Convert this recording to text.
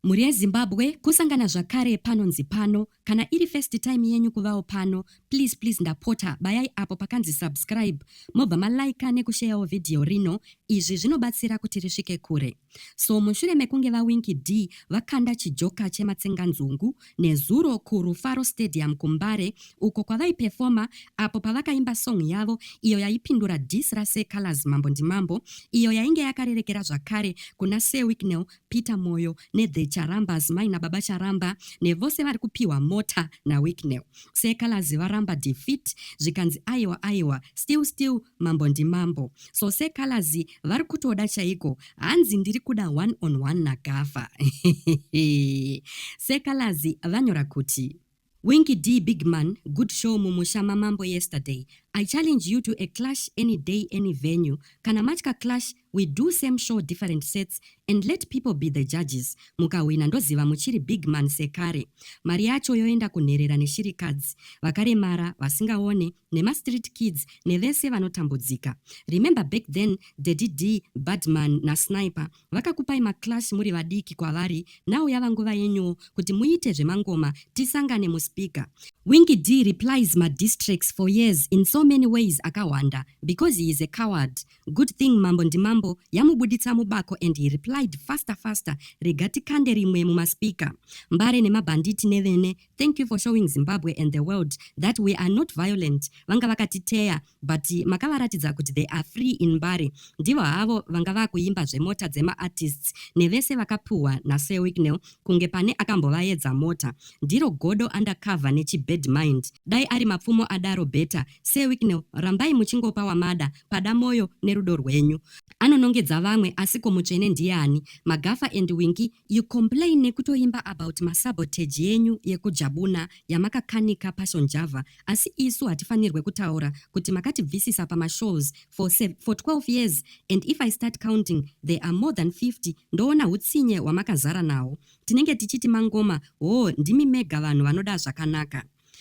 Mhuri yeZimbabwe kusangana zvakare panonzi pano kana iri first time yenyu kuvawo pano please please ndapota bayai apo pakanzi subscribe mobva ma liker neku sharewo video rino izvi zvinobatsira kuti risvike kure so mushure mekunge vaWinky D vakanda chijoka chematsenganzungu nezuro kuRufaro Stadium kuMbare uko kwavaiperforma apo pavakaimba song yavo iyo yaipindura diss raSir Calaz Mambo Ndimambo iyo yainge yakarerekera zvakare kuna Sir Wicknell Peter Moyo neThe Charambas mai nababa Charamba nevose vari kupiwa mota naWicknell. Sekalazi varamba defeat zvikanzi aiwa aiwa still still mambo ndimambo. So sekalazi vari kutoda chaiko hanzi ndiri kuda one on one naGafa. sekalazi vanyora kuti. Winky Dee big man good show mumusha mamambo yesterday I challenge you to a clash any day any venue kana matya clash we do same show different sets and let people be the judges mukahwina ndoziva muchiri big man sekare mari yacho yoenda kunherera neshirikadzi vakaremara vasingaone nemastreet kids nevese vanotambudzika remember back then daddy Dee badman nasniper Vakakupai maclass muri vadiki kwavari now yava nguva yenyuwo kuti muite zvemangoma tisangane muspeaker. Winky Dee replies ma diss tracks for years in so many ways akahwanda because he is a coward. Good thing Mambo Ndimambo yamubuditsa mubako and he replied faster faster rega tikande rimwe mumaspeaker. Mbare nemabhanditi nevene Thank you for showing Zimbabwe and the world that we are not violent. Vanga vakatiteya but makavaratidza kuti they are free in Mbare. Ndivo havo vanga vakuimba zvemota dzema artists nevese vakapuhwa na Sir Wicknell kunge pane akambovaedza mota. Ndiro godo undercover nechi bad mind. Dai ari mapfumo adaro better. Sir Wicknell rambai muchingopa wamada pada moyo nerudo rwenyu. Anonongedza vamwe asiko mutsvene ndiyani? Magafa and Winky You complain nekutoimba about masabotage yenyu yekujabuna yamakakanika paSean Java asi isu hatifanirwe kutaura kuti makatibvisisa pamashows for, for 12 years and if I start counting there are more than 50 ndoona hutsinye hwamakazara nawo. Tinenge tichiti mangoma hoo ndimi mega vanhu vanoda zvakanaka.